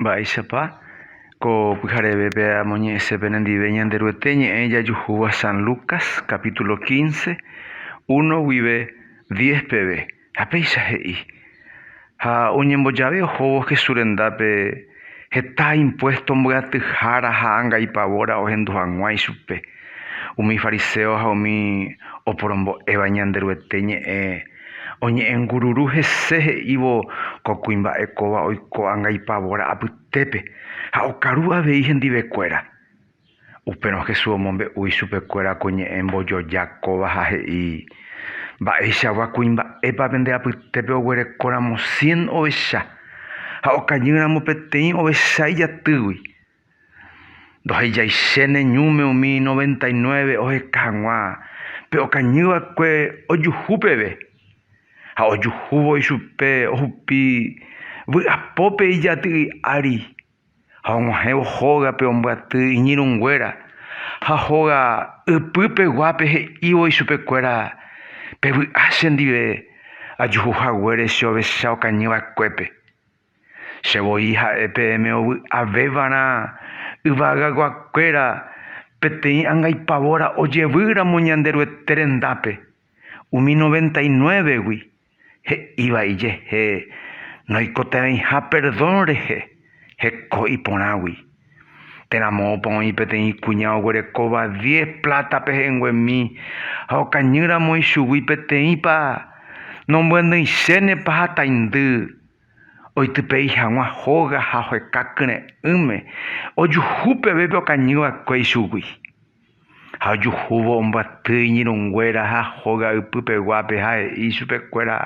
Mba'éichapa ko pyharevépe amoñe'ẽse penendive Ñanderuete ñe'ẽ jajuhúva San Lucas capítulo quince, uno guive diez peve, ha péicha he'i, Ha oñembojave ohóvo Jesús rendápe heta impuesto mbyatyhára ha angaipavóra ohendu hag̃ua ichupe, umi fariséo ha umi oporombo'éva Ñanderuete ñe'ẽ Oñe'ẽngururu hese he'ívo ko kuimba'e kóva oiko anga ipavóra apytépe ha okaru avei hendivekuéra. Upérõ Jesús omombe'u ichupekuéra ko ñe'ẽ mbojoja kóva ha he'i, Mba'eichagua kuimba'épa pende apytépe oguerekóramo cien ovecha ha okajýramo peteĩ ovecha ijatýgui? Ndohejaichéne ñúme umi noventa y nueve oheka hag̃ua pe okañy va'ekue ojuhu peve, ha ojuhúvo ichupe ohupi vy'apópe ijaty'y ári ha og̃uahẽvo hógape ombyaty iñirũ nguéra ha hóga ypy peguápe he'ívo ichupe kuéra, Pevy'a che ndive ajuhu haguére che ovecha okañy va'ekuépe. Che voi ha'e peẽme ovy'avévarã yvagaguakuéra peteĩ angaipavóra ojevýramo Ñanderuete rendápe, umi noventa inuévegui, he'íva ijehe noikotevẽiha perdón rehe heko iporãgui. Térã moõpa oĩ peteĩ kuña oguerekóva diez pláta pehẽnguemi ha okañýramo ichugui peteĩpa, nombyandỹichénepa hataindy. Oitypei hag̃ua hóga ha oheka kyre'ỹme, ojuhu pevépe okañy va'ekue ichugui. Ha ojuhúvo ombyaty iñirũnguéra ha hóga ypy peguápe ha he'i ichupe kuéra,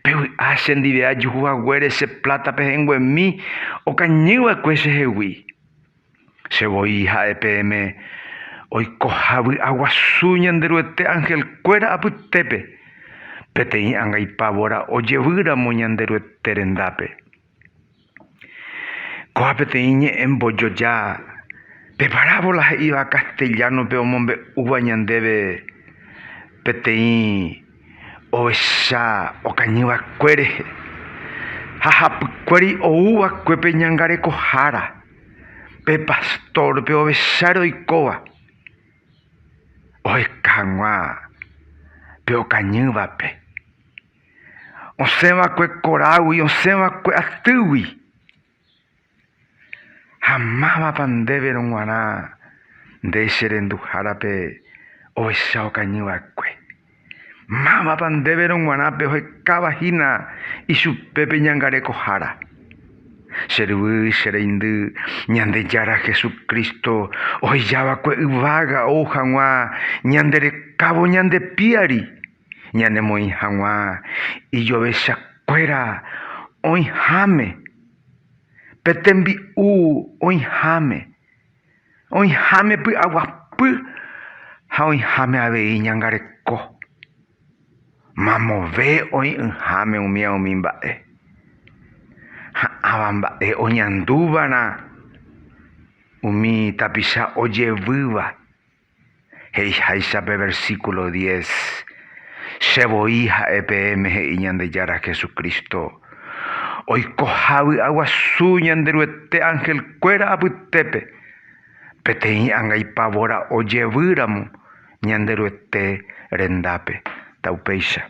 Pevy'a che ndive ajuhu haguére che pláta pehenguemi okañy va'ekue chehegui. Che voi ha'e peẽme oikoha vy'aguasu Ñanderuete angelkuéra apytépe, peteĩ angaipávora ojevýramo Ñanderuete rendápe. Kóva peteĩ ñe'ẽ mbojoja, pe parávola he'íva castellano-pe omombe'úva ñandéve peteĩ ovecha okañyvakue rehe ha hapykuéri ouva'ekuépe ñangarekohára. pe pastor, pe ovecha roikóva oheka hag̃ua pe okañývape, osẽ va'ekue korágui, osẽ va'ekue atýgui, ha mávapa ndéve rog̃uarã nde che renduhárape ovecha okañy va'ekue. Mávapa ndéverõ g̃uarã pehoekáva hína ichupe pe ñangarekohára? Che ryvy, che reindy, Ñandejára Jesucristo ohejava'ekue yvága ou hag̃ua ñande rekávo ñande piári, ñanemoĩ hag̃ua ijovechakuéra oĩháme, pe tembi'u oĩháme. Oĩháme py'aguapy ha oĩháme avei ñangareko. Mamove oĩ'ỹháme umía umi mba'e. Ha ãva mba'e oñandúvarã umi tapicha ojevýva. He'iháicha pe versíkulo diez, che voi ha'e peẽme he'i Ñandejára Jesucristo, oikoha vy'aguasu Ñanderuete angelkuéra apytépe, peteĩ anga ipavóra ojevýramo Ñanderuete rendápe. Ta upéicha.